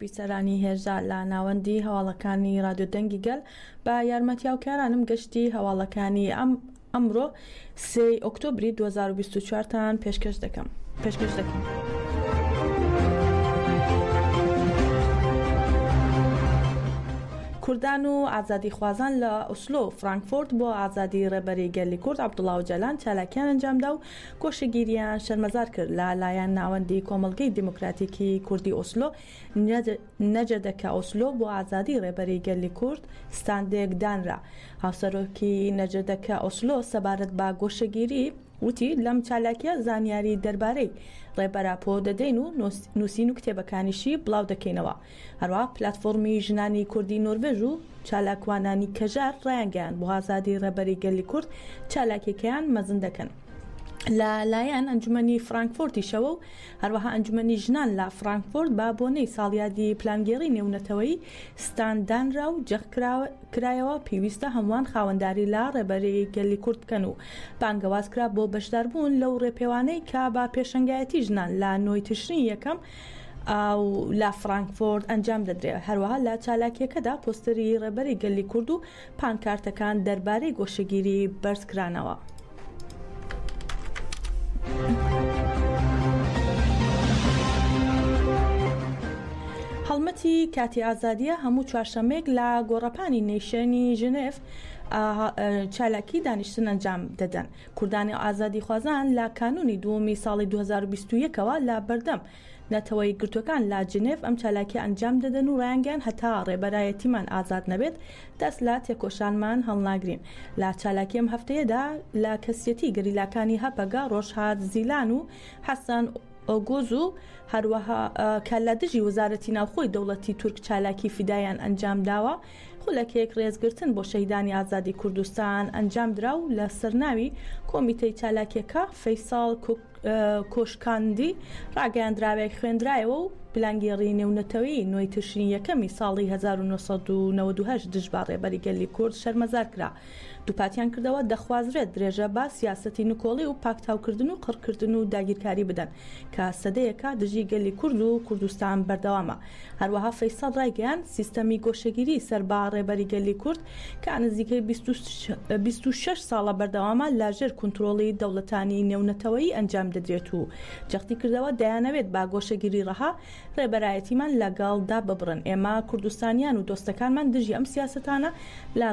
بیسەرانی هێژا لە ناوەندی هەواڵەکانی رادیۆ دەنگی گەل بە یارمەتی هاوکارانم گەشتی هەواڵەکانی ئەم ئەمڕۆ سێی ئۆکتۆبری دوو هەزار و بیست و چوار تان پێشکەش دەکەم پێشکەش دەکەم. کوردان و ئازادیخوازان لە ئوسلۆ و فرانکفۆرت بۆ ئازادی ڕێبەری گەلی کورد عەبدوڵا ئۆجالان چالاکییان ئەنجامدا و گۆشەگیرییان شەرمەزار کرد لە لایەن ناوەندی کۆمەڵگەی دیموکراتیکی کوردی ئۆسلۆ، نەجەدەکە ئۆسلۆ بۆ ئازادی ڕێبەری گەلی کورد ستاندێک دانرا. هاوسەرۆکی نەجەدەکە ئۆسلۆ سەبارەت بە گۆشەگیری وتی، لەم چالاکیە زانیاری دەربارەی ڕێبەر ئاپۆ دەدەین و نووسین و کتێبەکانیشی بڵاو دەکەینەوە. هەروەها پلاتفۆڕمی ژنانی کوردی نۆروێژ و چالاکوانانی کەژار ڕایانگەیاند بۆ ئازادی ڕێبەری گەلی کورد چالاکیەکەیان مەزن دەکەن لە لایەن ئەنجومەنی فرانکفۆرتیشەوە و هەروەها ئەنجومەنی ژنان لە فرانکفۆرت بە بۆنەی ساڵیادی پلانگێڕی نێونەتەوەیی ستاند دانرا و جەخت کرایەوە پێویستە هەمووان خاوەنداری لە ڕێبەری گەلی کورد بکەن و بانگەواز کرا بۆ بەشداربوون لەو ڕێپێوانەی کە بە پێشەنگایەتی ژنان لە نۆی تشرینی یەکەم و لە فرانکفۆرت ئەنجام دەدرێت، هەروەها لە چالاکییەکەدا پۆستەری ڕێبەری گەلی کورد و پانکارتەکان دەربارەی گۆشەگیری بەرز کرانەوە. هەڵمەتی کاتی ئازادییە هەموو چوارشەمەیەک لە گۆڕەپانی نەیشێنی ژنێف چالاکی دانیشتن ئەنجام دەدەن کوردانی و ئازادیخوازان لە کانوونی دووەمی ساڵی دوو هەزار و بیست و یەک ەوە لە بەردەم نەتەوە یەکگرتووەکان لە جنێڤ ئەم چالاکیە ئەنجام دەدەن و ڕایانگەیاند هەتا ڕێبەرایەتیمان ئازاد نەبێت دەست لە تێکۆشانمان هەڵناگرین لە چالاکی ئەم هەفتەیەدا لە کەسیەتی گەریلاکانی هەپەگە ڕۆژهات زیلان و حەسەن ئۆگوز و هەروەها کە لە دژی وەزارەتی ناوخۆی دەوڵەتی تورک چالاکی فیدایان ئەنجام داوە خولەکێک ڕێزگرتن بۆ شەهیدانی ئازادی کوردستان ئەنجامدرا و لە سەرناوی کۆمیتەی چالاکیەکە فەیساڵ کۆشکاندی ڕاگەیاندراوێک خوێندرایەوە و پلانگێڕی نێونەتەوەیی نۆی تشرینی یەکەمی ساڵی هەزار و نۆ سەد و نەوەد و هەشت دژبە ڕێبەری گەلی کورد شەرمەزار کرا دووپاتیان کردەوە، دەخوازرێت درێژە بە سیاسەتی نکۆڵی و پاکتاوکردن و قڕکردن و داگیرکاری بدەن کە سەدەیەکە دژی گەلی کورد و کوردستان بەردەوامە. هەروەها فەیسەڵ رایگەیاند، سیستەمی گۆشەگیری سەر بە رێبەری گەلی کورد کە نزیکەی بیست و شەش ساڵە بەردەوامە لەژێر کونترۆڵی دەوڵەتانی نێونەتەوەیی ئەنجام دەدرێت و جەختیکردەوە، دەیانەوێت بە گۆشەگیری رەها ڕێبەرایەتیمان لەگەڵ دا ببڕن، ئێمە کوردستانیان و دۆستەکانمان دژی ئەم سیاسەتانە لە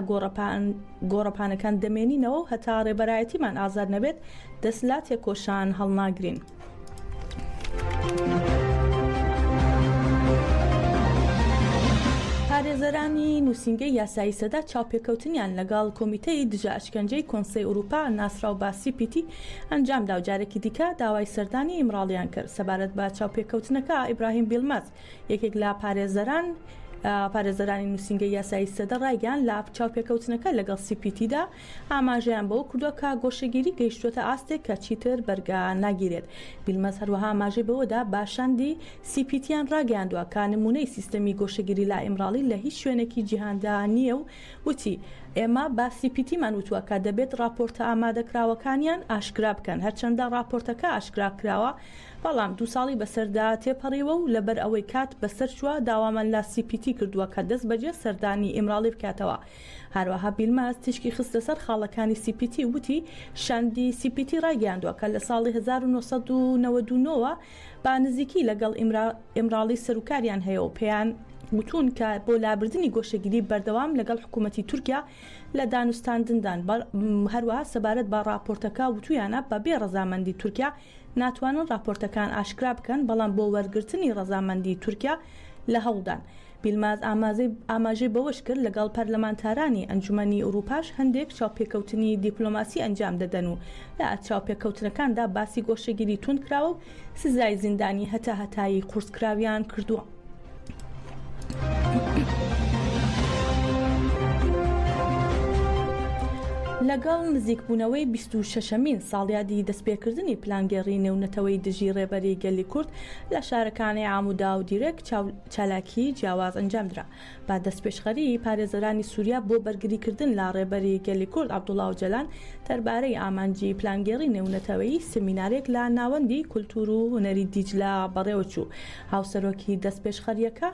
گۆڕەپانەکان دەمێنینەوە و هەتا ڕێبەرایەتیمان ئازاد نەبێت دەست لە تێکۆشان هەڵناگرین. پارێزەرانی نووسینگەی یاسایی سەدە چاوپێکەوتنیان لەگەڵ کۆمیتەی دژە ئەشکەنجەی کۆنسەی ئورووپا ناسراو بە سی پی تی، ئەنجام دا و جارێکی دیکە داوای سەردانی ئیمراڵییان کرد. سەبارەت بە چاوپێکەوتنەکە، ئیبراهیم بیلمەز، یەکێک لە پارێزەران، پارێزەرانی نووسینگەی یاسایی سەدە ڕایگەیاند، لە چاوپێکەوتنەکە لەگەڵ سی پی تی دا ئاماژەیان بەوە کردووە کە گۆشەگیری گەیشتووەتە ئاستێک کە چیتر بەرگە ناگیرێت. بیلمەز هەروەها ئاماژەی بەوەدا بە شاندی سی پی تییان ڕاگەیاندووە کە نموونەی سیستەمی گۆشەگیری لە ئیمراڵی لە هیچ شوێنێکی جیهاندا نییە و وتی، ئێمە بە سی پی تیمان وتووە کە دەبێت ڕاپۆرتە ئامادەکراوەکانیان ئاشکرا بکەن، هەرچەندە ڕاپۆرتەکە ئاشکرا کراوە، بەڵام دوو ساڵی بەسەردا تێپەڕیوە و لەبەر ئەوەی کات بەسەر چووە داوامان لە سی پی تی کردووە کە دەستبەجێ سەردانی ئیمراڵی بکاتەوە. هەروەها بیلماز تیشکی خستە سەر خاڵەکانی سی پی تی و وتی، شاندی سی پی تی ڕایگەیاندووە کە لە ساڵی هەزار و نۆ سەد و نەوەد و نۆ وە، با نزیکی لە گەڵ ئیمراڵی سەروکاریان هەیە و پێیان وتوون کە بۆ لابردنی گۆشەگیری بەردەوام لە گەڵ حکوومەتی تورکیا لە دانوستاندندان هەروەها سەبارەت بە ڕاپۆرتەکە وتوویانە بە بێ ڕەزامەندی تورکیا ناتوانن ڕاپۆرتەکان ئاشکرا بکەن بەڵام بۆ وەرگرتنی ڕەزامەندی تورکیا لە هەوڵدان بیلماز ئاماژەی بەوەشکرد، لەگەڵ پەرلەمانتارانی ئەنجومەنی ئورووپاش هەندێک چاوپێکەوتنی دیپلۆماسی ئەنجام دەدەن و لە چاوپێکەوتنەکاندا باسی گۆشەگیری توندکراوە و سزای زیندانی هەتاهەتایی قورسکراویان کردووە. لەگەڵ نزیکبوونەوەی بیست و شەشەمین ساڵیادی دەستپێکردنی پلانگێڕی نێونەتەوەی دژی ڕێبەری گەلی کورد لە شارەکانی عامودا و دیرەک چالاکی جیاواز ئەنجام درا بە دەستپێشخەری پارێزەرانی سوریا بۆ بەرگریکردن لە ڕێبەری گەلی کورد عەبدوڵا ئۆجەلان دەربارەی ئامانجی پلانگێڕی نێونەتەوەیی سمینارێک لە ناوەندی کولتور و هونەری دیجلە بەڕێوەچوو هاوسەرۆکی دەستپێشخەریەکە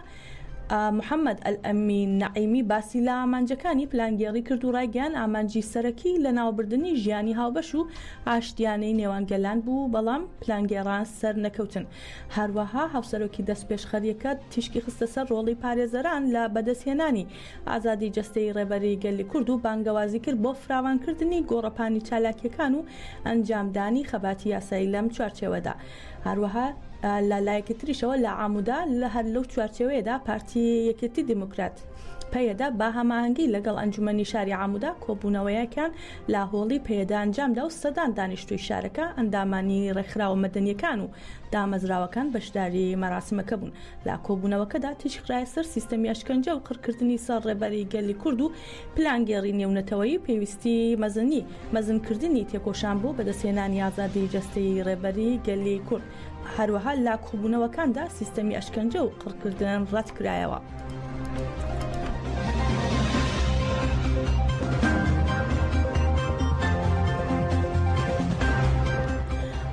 محەمەد ئەلئەمین نەعیمی باسی لە ئامانجەکانی پلانگێڕی کرد و ڕایگەیان ئامانجی سەرەکی لەناوبردنی ژیانی هاوبەش و ئاشتیانەی نێوان گەلان بوو بەڵام پلانگێڕان سەرنەکەوتن هەروەها هاوسەرۆکی دەستپێشخەرییەکە تیشکی خستە سەر ڕۆڵی پارێزەران لە بەدەستهێنانی ئازادی جەستەیی ڕێبەری گەلی کورد و بانگەوازی کرد بۆ فراوانکردنی گۆڕەپانی چالاکییەکان و ئەنجامدانی خەباتی یاسایی لەم چوارچێوەدا هەروەها لە لایەکی تریشەوە لە عامودا هەر لەو چوارچێوەیەدا پارتی یەکێتی دیموکرات پەیەدە بە هەماهەنگی لەگەڵ ئەنجومەنی شاری عامودا کۆبوونەوەیەکیان لە هۆڵی پەیەدە ئەنجامدا و سەدان دانیشتووی شارەکە، ئەندامانی ڕێکخراوە مەدەنییەکان و دامەزراوەکان بەشداری مەراسیمەکە بوون. لە کۆبوونەوەکەدا تیشکخرایە سەر سیستەمی ئەشکەنجە و قڕکردنی سەر ڕێبەری گەلی کورد و پلانگێڕی نێونەتەوەیی و پێویستی مەزنی مەزنکردنی تێکۆشان بۆ بەدەستهێنانی ئازادی جەستەیی ڕێبەری گەلی کورد. هەروەها لە کۆبوونەوەکاندا سیستەمی ئەشکەنجە و قڕکردن ڕەت کرایەوە.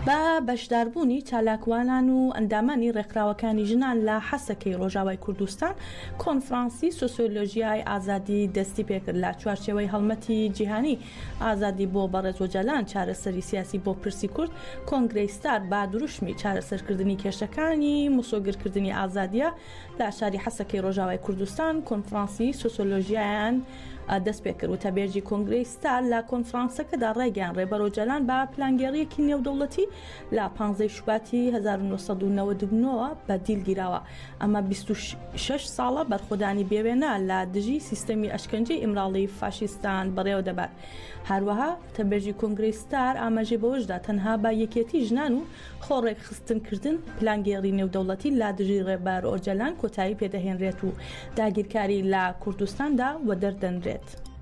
بە بەشداربوونی چالاکوانان و ئەندامانی ڕێکخراوەکانی ژنان لە حەسەکەی ڕۆژاوای کوردستان کۆنفرانسی سوسیۆلۆژیای ئازادی دەستی پێکرد لە چوارچێوەی هەڵمەتی جیهانی ئازادی بۆ بەڕێز ئۆجالان، چارەسەری سیاسی بۆ پرسی کورد، کۆنگرەی ستار با دروشمی چارەسەرکردنی کێشەکانی مسۆگەرکردنی ئازادییە لە شاری حەسەکەی ڕۆژاوای کوردستان، کۆنفرانسی سۆسۆلۆژیایان دەستپێکرد. وتەبێژی کۆنگرەی ستار لە کۆنفرانسەکەدا ڕایگەیاند، ڕێبەر ئۆجالان بە پلانگێڕییەکی نێودەوڵەتی لە پانزەی شوباتی هەزار و نۆ سەد و نەوەد و نۆ وە بە دیل گیراوە، ئەمە بیست و شەش ساڵە بەرخۆدانی بێوێنە لە دژی سیستەمی ئەشکەنجەی ئیمراڵی فاشیستان بەڕێوە دەبات هەروەها تەبێژی کۆنگری ستار ئاماژەی بەوەشدا تەنها با یەکێتی ژنان و خۆ ڕێکخستنکردن پلانگێڕی نێودەوڵەتی لا دژی ڕێبەر ئۆجەلان کۆتایی پێدەهێنرێت و داگیرکاری لە کوردستاندا وەدەردەنرێت.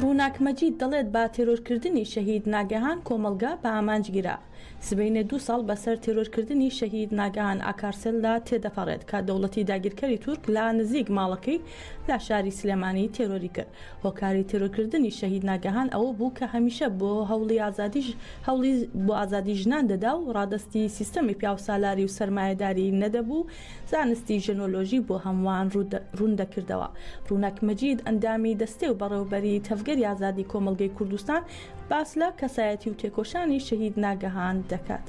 ڕووناک مەجید دەڵێت بە تێرۆرکردنی شەهید ناگەهان کۆمەڵگا بە ئامانج گیرا سبەینێ دو ساڵ بەسەر تێرۆرکردنی شەهید ناگەهان ئاکارسێلدا تێدەپەڕێت کە دەوڵەتی داگیرکەری تورک لە نزیک ماڵەکەی لە شاری سلێمانی تێرۆری کرد هۆکاری تیرۆرکردنی شەهید ناگەهان ئەوە بوو کە هەمیشە بۆ هەوڵی ئازادی هەوڵی بۆ ئازادی ژنان دەدا و ڕادەستی سیستەمی پیاوسالاری و سەرمایەداری نەدەبوو زانستی ژنۆلۆژی بۆ هەمووان ڕوون دەکردەوە ڕووناک مەجید ئەندامی دەستەی و بەڕێوبەری تەڤگەری ئازادی کۆمەڵگەی کوردستان باس لە کەسایەتی و تێکۆشانی شەهید ناگەهان دەکات.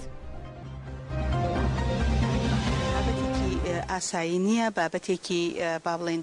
ئاسایی نییە بابەتێکی با بڵێن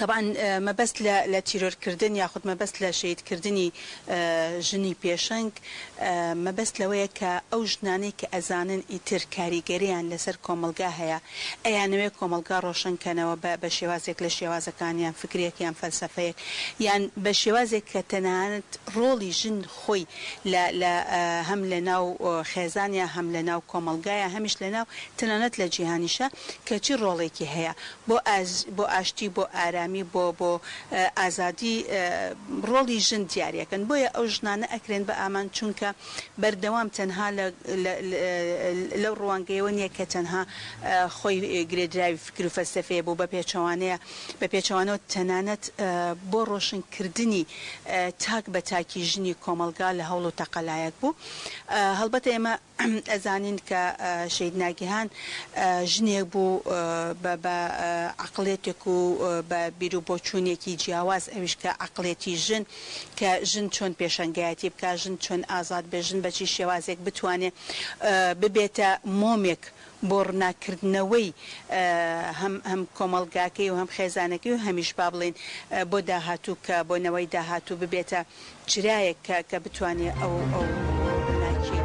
تەبعەن مەبەست لە لە تیرۆر کردن یاخود مەبەست لە شەهید کردنی ژنی پێشەنگ مەبەست لەوەیە کە ئەو ژنانەی کە ئەزانن ئیتر کاریگەریان لەسەر کۆمەڵگا هەیە ئەیانەوێ کۆمەڵگا ڕۆشن کەنەوە بە بە شێوازێک لە شێوازەکان یان فکرێک یان فەلسەفەیەک یان بە شێوازێک کە تەنانەت ڕۆڵی ژن خۆی لە لە هەم لە ناو خێزانیا هەم لە ناو کۆمەڵگایە هەمیش لە ناو تەنانەت لە جیهانیشە کە چی ڕۆڵێکی هەیە بۆ ئاز، بۆ ئاشتی، بۆ ئارامی، بۆ بۆ ئازادی ڕۆڵی ژن دیارەکەن بۆیە ئەو ژنانە ئەکرێن بە ئامانج چونکە بەردەوام تەنها لە لە لەو ڕوانگەیەوە نیە کە تەنها خۆی گرێدراوی فکر و فەلسەفەیە بۆ بە پێچەوانەیە بە پێچەوانەوە تەنانەت بۆ ڕۆشن کردنی تاک بە تاکی ژنی کۆمەڵگا لە هەوڵ و تەقەلایەک بوو هەڵبەتە ئێمە ئەزانین کە شەهید ناگیهان ژنێک بوو بە بە عەقڵیەتێک و بە بیرو بۆچوونێکی جیاواز ئەویش کە عەقڵیەتی ژن کە ژن چۆن پێشەنگایەتی بکا ژن چۆن ئازاد بێ ژن بە چی شێوازێک بتوانێ ببێتە مۆمێک بۆ ڕناککردنەوەی هەم کۆمەڵگاکەی و هەم خێزانەکەی و هەمیش با بڵێین بۆ داهاتوو کە بۆ نەوەی داهاتوو ببێتە چرایەک کە کە بتوانێ ئەو ڕووناکییە.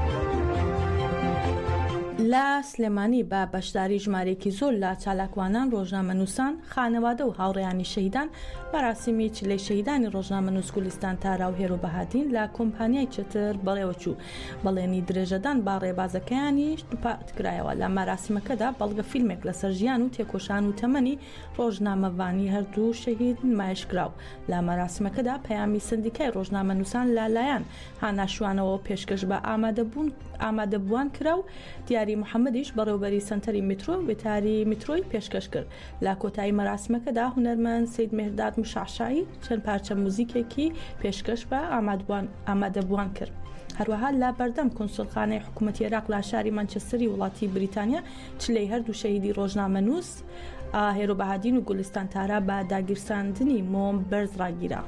لە سلێمانی بە بەشداری ژمارەیەکی زۆر لە چالاکوانان، ڕۆژنامەنووسان، خانەوادە و هاوڕێیانی شەهیدان، مەراسیمی چلەی شەهیدانی ڕۆژنامەنووس گولیستان تارا و هێرۆ بەهادین لە کۆمپانیای چتر بەڕێوەچوو. بەڵێنی درێژەدان بە ڕێبازەکەیانیش دووپاتکرایەوە لە مەراسمەکەدا بەڵگە فیلمێک لەسەر ژیان و تێکۆشان و تەمەنی ڕۆژنامەڤانی هەردوو شەهید نمایشکرا و لە مەراسمەکەدا پەیامی سەندیکای ڕۆژنامەنووسان لەلایەن هانا شوانەوە پێشکەش بە ئامادەبووان کرا و دیاری محەمەدیش بەڕێوەبەری سەنتەری میترۆ وتاری میترۆی پێشکەش کرد. لە کۆتایی مەراسمەکەدا هونەرمەند سید مهرداد مشعشعی چەند پارچە موزیکێکی پێشکەش بە ئامادبوان ئامادەبووان کرد. هەروەها لە بەردەم کونسولخانەی حکوومەتی عێراق لە شاری مانچستەری وڵاتی بریتانیا چلەی هەردوو شەهیدی ڕۆژنامەنووس ئاهێرۆ بەهادین و گولستان تارا بە داگیرساندنی مۆم بەرز ڕاگیرا.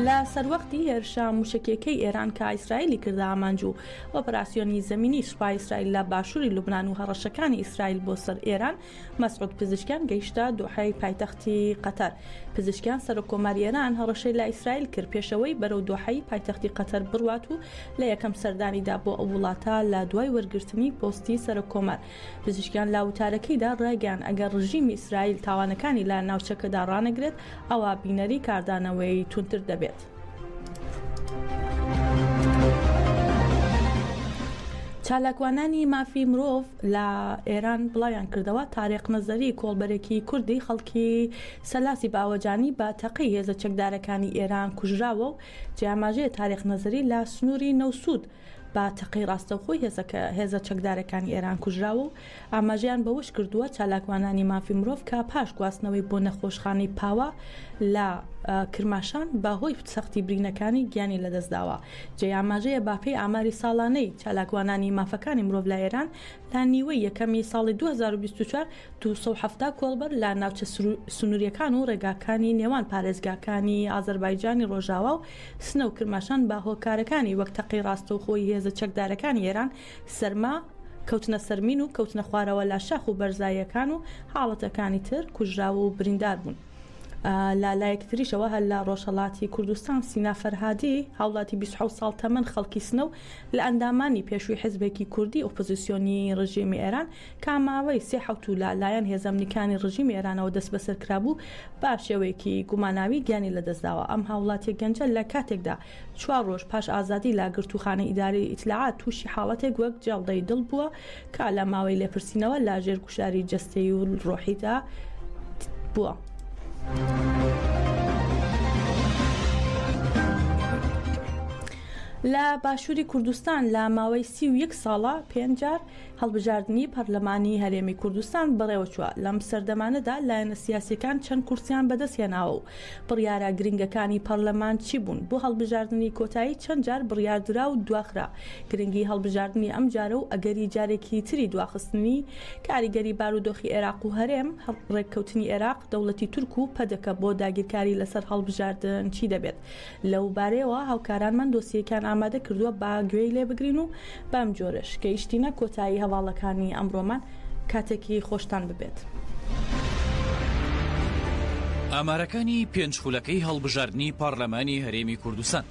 لە سەروەختی هێرشە موشەکیەکەی ئێران کە ئیسرائیلی کردە ئامانج و ئۆپراسسیۆنی زمینی سوپای ئیسرائیل لە باشووری لوبناان و هەڕەشەکانی ئیسرائیل بۆ سەر ئێران مەسعود پزیشکیان گەیشتە دۆحی پایتەختی قەتەر پزیشکیان سەر کۆماری ئێران هەڕەشەی لە ئیسرائیل کرد پێشەوەی بەرەو دۆحی پایتەختی قەتەر بڕوات و لە یەکەم سەردانیدا بۆ ئەو وڵاتە لە دوای وەرگرتنی پۆستی سەر کۆمار پزیشکیان لە وتارەکەیدا ڕایگەیاند، ئەگەر ڕژیمی ئیسرائیل تاوانەکانی لە ناوچەکەدا ڕانەگرێت، ئەوا بینەری کاردانەوەی توندتر دەبێت. چالاکوانانی مافی مرۆڤ لە ئێران بڵاویان کردەوە تارێق نەزەری کۆڵبەرێکی کوردی خەڵکی سەلاسی باوەجانی بە تەقەی هێزە چەکدارەکانی ئێران کوژراوە و جیاماژەیە تارێق نەزەری لە سنووری نەوسود بە تەقەی ڕاستەوخۆی هێزە چەکدارەکانی ئێران کوژراوە و ئاماژەیان بەوەش کردووە، چالاکوانانی مافی مرۆڤ کە پاش گواستنەوەی بۆ نەخۆشخانەی پاوە لە کرماشان بە هۆی سەختی برینەکانی گیانی لەدەستداوە. جێی ئاماژەیە بەپێی ئاماری ساڵانەی چالاکوانانی مافەکانی مرۆڤ لە ئێران، لە نیوەی یەکەمی ساڵی دوو هەزار و بیست و چوار دوو سەد و حەفتا کۆڵبەر لە ناوچە سنوورییەکان و ڕێگاکانی نێوان پارێزگاکانی ئازەربایجانی ڕۆژاوا و سنە و کرماشان بە هۆکارەکانی وەک تەقەی ڕاستەوخۆی هێزە چەکدارەکانی ئێران، سەرما، کەوتنە سەر مین و کەوتنە خوارەوە لە شاخ و بەرزاییەکان و حاڵەتەکانی تر کوژراو و بریندار بوون. لە لایەکی تریشەوە هەر لە ڕۆژهەڵاتی کوردستان سینا فەرهادی هاوڵاتی بیست و حەوت ساڵ تەمەن خەڵکی سنە و لە ئەندامانی پێشووی حزبێکی کوردی ئۆپۆزیسیۆنی ڕژێمی ئێران کە ماوەی سێ حەوتوو لە لایەن هێزە ئەمنیکانی ڕژیمی ئێرانەوە دەسبەسەر کرابوو، بە شێوەیەکی گوماناوی گیانی لەدەستداوە. ئەم هاوڵاتییە گەنجە لە کاتێکدا چوار ڕۆژ پاش ئازادی لە گرتووخانەی ئیدارەی ئیتلاعات تووشی حاڵەتێک وەک جەڵدەی دڵ بووە کە لە ماوەی لێپرسینەوە لە ژێر گوشاری جەستەیی و ڕۆحیدا بووە. لە باشووری کوردستان لە ماوەی سی و یەک ساڵە پێنج جار هەڵبژاردنی پەرلەمانی هەرێمی کوردستان بەڕێوەچووە، لەم سەردەمانەدا لایەنە سیاسییەکان چەند کورسییان بەدەستهێناوە و بڕیارە گرنگەکانی پەرلەمان چی بوون، بۆ هەڵبژاردنی کۆتایی چەند جار بڕیار درا و دواخرا، گرنگی هەڵبژاردنی ئەمجارە و ئەگەری جارێکی تری دواخستنی، کاریگەری بارودۆخی ئێراق و هەرێم، ڕێککەوتنی ئێراق، دەوڵەتی تورک و پەدەکە بۆ داگیرکاری لەسەر هەڵبژاردن چی دەبێت؟ لەوبارەیەوە هاوکارانمان دۆسیەیەکیان ئامادە کردووە با گوێی لێ بگرین و بەم جۆرەش گەیشتینە کۆتایی هەواڵەکانی ئەمڕۆمان، کاتێکی خۆشتان ببێت. ئامارەکانی پێنج خولەکەی هەڵبژاردنی پارلەمانی هەرێمی کوردستان.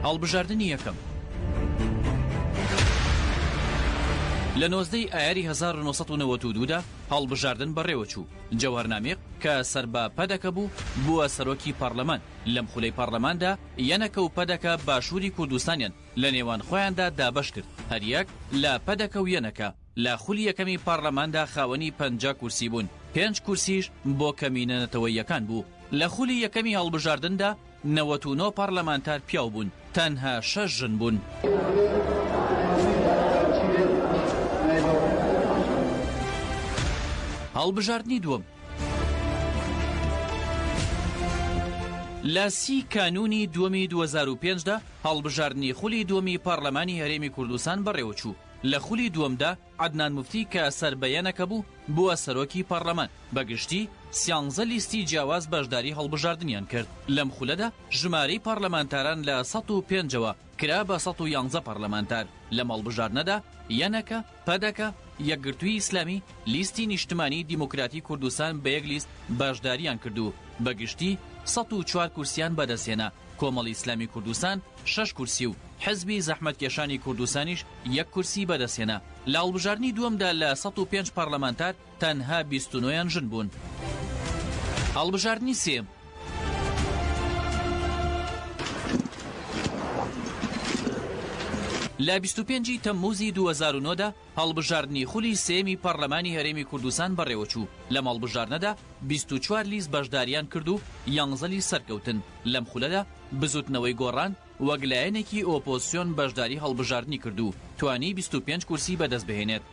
هەڵبژاردنی یەکەم لە نۆزدەی ئایاری هەزار و نۆ سەد و نەوەد و دوو دا هەڵبژاردن بەڕێوە چوو، جەوهەر نامیق کە سەر بە پەدەکە بوو، بووە سەرۆکی پارلەمان، لەم خولەی پارلەماندا یەنەکە و پەدەکە باشووری کوردستانیان لە نێوان خۆیاندا دابەش کرد، هەریەک لە پەدەکە و یەنەکە لە خولی یەکەمی پارلەماندا خاوەنی پەنجا کورسی بوون، پێنج کورسیش بۆ کەمینە نەتەوەییەکان بوو. لە خولی یەکەمی هەڵبژاردندا، نەوەت و نۆ پەڕلەمانتار پیاو بوون، تەنها شەش ژن بوون. هەڵبژاردنی دووەم. لە سی کانوونی دووەمی دوو هەزار و پێنج دا، هەڵبژاردنی خولی دووەمی پەڕلەمانی هەرێمی کوردستان بەڕێوەچوو، لە خولی دووەمدا، عەدنان موفتی کە سەر بە یەنەکە بوو، بووە سەرۆکی پەڕلەمان. بە گشتی سیانزە لیستی جیاواز بەشداری هەڵبژاردنیان کرد. لەم خولەدا ژمارەی پەڕلەمانتاران لە سەد و پێنجەوە کرا بە سەد و یانزە پەڕلەمانتار. لەم هەڵبژاردنەدا یەنەکە، پەدەکە، یەکگرتووی ئیسلامی، لیستی نیشتمانیی دیموکراتی کوردستان بە یەک لیست بەشدارییان کرد و بە گشتی سەد و چوار کورسییان بەدەستهێنا. کۆمەڵی ئیسلامی کوردستان شەش کورسی و حزبی زەحمەتکێشانی کوردستانیش یەک کورسی بەدەستهێنا، لە هەڵبژاردنی دووەمدا لە سەد و پێنج پەرلەمانتار تەنها بیست و نۆ یان ژن بوون. هەڵبژاردنی سێیەم. لە بیست و پێنج ی تەمموزی دوو هەزار و نۆ دا هەڵبژاردنی خولی سێیەمی پەڕلەمانی هەرێمی کوردستان بەڕێوەچوو، لەم هەڵبژاردنەدا بیست و چوار لیست بەشدارییان کرد و یانزە لیست سەرکەوتن، لەم خولەدا بزووتنەوەی گۆڕان وەک لایەنێکی ئۆپۆزسیۆن بەشداری هەڵبژاردنی کرد و توانی بیست و پێنج کورسی بەدەستبهێنێت.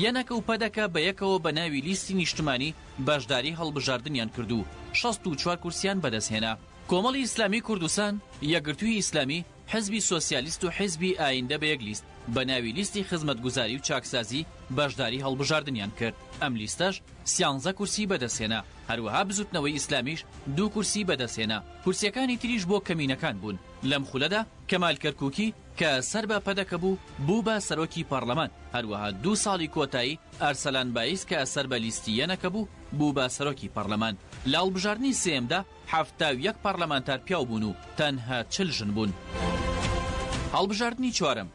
یەنەکە و پەدەکە بەیەکەوە بە ناوی لیستی نیشتمانی بەشداری هەڵبژاردنیان کرد و شەست و چوار کورسییان بەدەستهێنا. کۆمەڵی ئیسلامی کوردستان، یەکگرتووی ئیسلامی، حیزبی سۆسیالیست و حیزبی ئایندە بە یەک لیست بە ناوی لیستی خزمەتگوزاری و چاکسازی بەشداری هەڵبژاردنیان کرد، ئەم لیستەش سیانزە کورسی بەدەستهێنا، هەروەها بزوتنەوەی ئیسلامیش دوو کورسی بەدەستهێنا، کورسیەکانی تریش بۆ کەمینەکان بوون، لەم خولەدا کەمال کەرکوکی کە سەر بە پەدەکە بوو بوو بە سەرۆکی پەڕلەمان، هەروەها دوو ساڵی کۆتایی ئەرسەلان بایز کە سەر بە لیستی یەنەکە بوو بوو بە سەرۆکی پەڕلەمان، لە هەڵبژاردنی سێیەمدا حەفتا و یەک پەڕلەمانتار پیاو بوون و تەنها چل ژن بوون. هەڵبژاردنی چوارەم.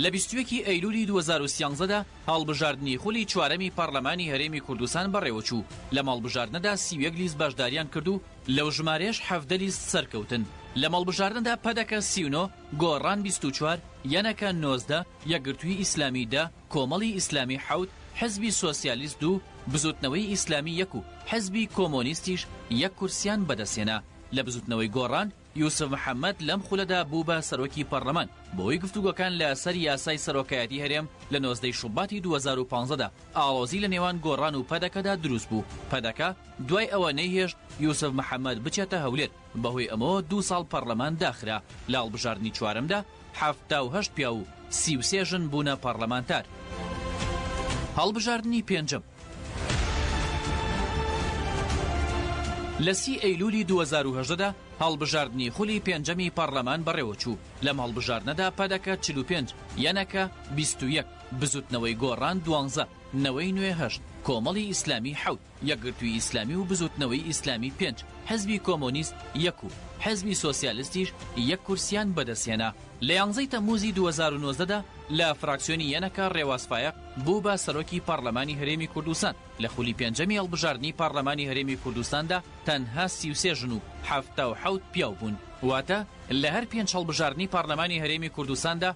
لە بیست و یەکی ئەیلولی دوو هەزار و سیانزە دا هەڵبژاردنی خولی چوارەمی پەڕلەمانی هەرێمی کوردستان بەڕێوە چوو، لەم هەڵبژاردنەدا سی و یەک لیست بەشدارییان کرد و لەو ژمارەیەش حەڤدە لیست سەرکەوتن. لەم هەڵبژاردنەدا پەدەکە سی و نۆ، گۆڕان بیست و چوار، یەنەکە نۆزدە، یەکگرتووی ئیسلامی دە، کۆمەڵی ئیسلامی حەوت، حزبی سۆسیالیست دوو، بزووتنەوەی ئیسلامی یەک و حزبی کۆمۆنیستیش یەک کورسییان بەدەستهێنا لە بزووتنەوەی گۆڕان، یوسف محەمەد لەم خولەدا بوو بە سەرۆکی پەڕڵەمان بەهۆی گفتوگۆکان لە سەر یاسای سەرۆکایەتی هەرێم لە نۆزدەی شوباتی دوو هەزار و پازدە دا ئاڵۆزی لە نێوان گۆڕان و پەدەکەدا دروست بوو، پەدەکە دوای ئەوە نەیهێشت یوسف محەمەد بچێتە هەولێر. بەهۆی ئەمەوە دوو ساڵ پەڕلەمان داخرا، لە هەڵبژاردنی چوارەمدا حەفتا و هەشت پیاو و سی و سێ ژن بوونە پەڕلەمانتار. هەڵبژاردنی پێنجەم. لە سی ئەیلوولی دوو هەزار و هەژدە دا هەڵبژاردنی خولی پێنجەمی پەڕلەمان بەڕێوەچوو، لەم هەڵبژاردنەدا پەدەکە چل و پێنج، یەنەکە بیست و یەک، بزووتنەوەی گۆڕان دوانزە، نەوەی نوێ هەشت، کۆمەڵی ئیسلامی حەوت. یەکگرتووی ئیسلامی و بزووتنەوەی ئیسلامی پێنج، حزبی کۆمۆنیست یەک و حزبی سۆسیالستیش یەک کورسییان بەدەستهێنا. لە یانزەی تەممووزی دوو هەزار و نۆزدە دا لە فراکسیۆنی یەنەکە ڕێواز فایەق بوو بە سەرۆکی پارلەمانی هەرێمی کوردستان، لە خولی پێنجەمی هەڵبژاردنی پارلەمانی هەرێمی کوردستاندا تەنها سی و سێ ژن و حەفتا و حەوت پیاو بوون، واتە لە هەر پێنج هەڵبژاردنی پارلەمانی هەرێمی کوردستاندا،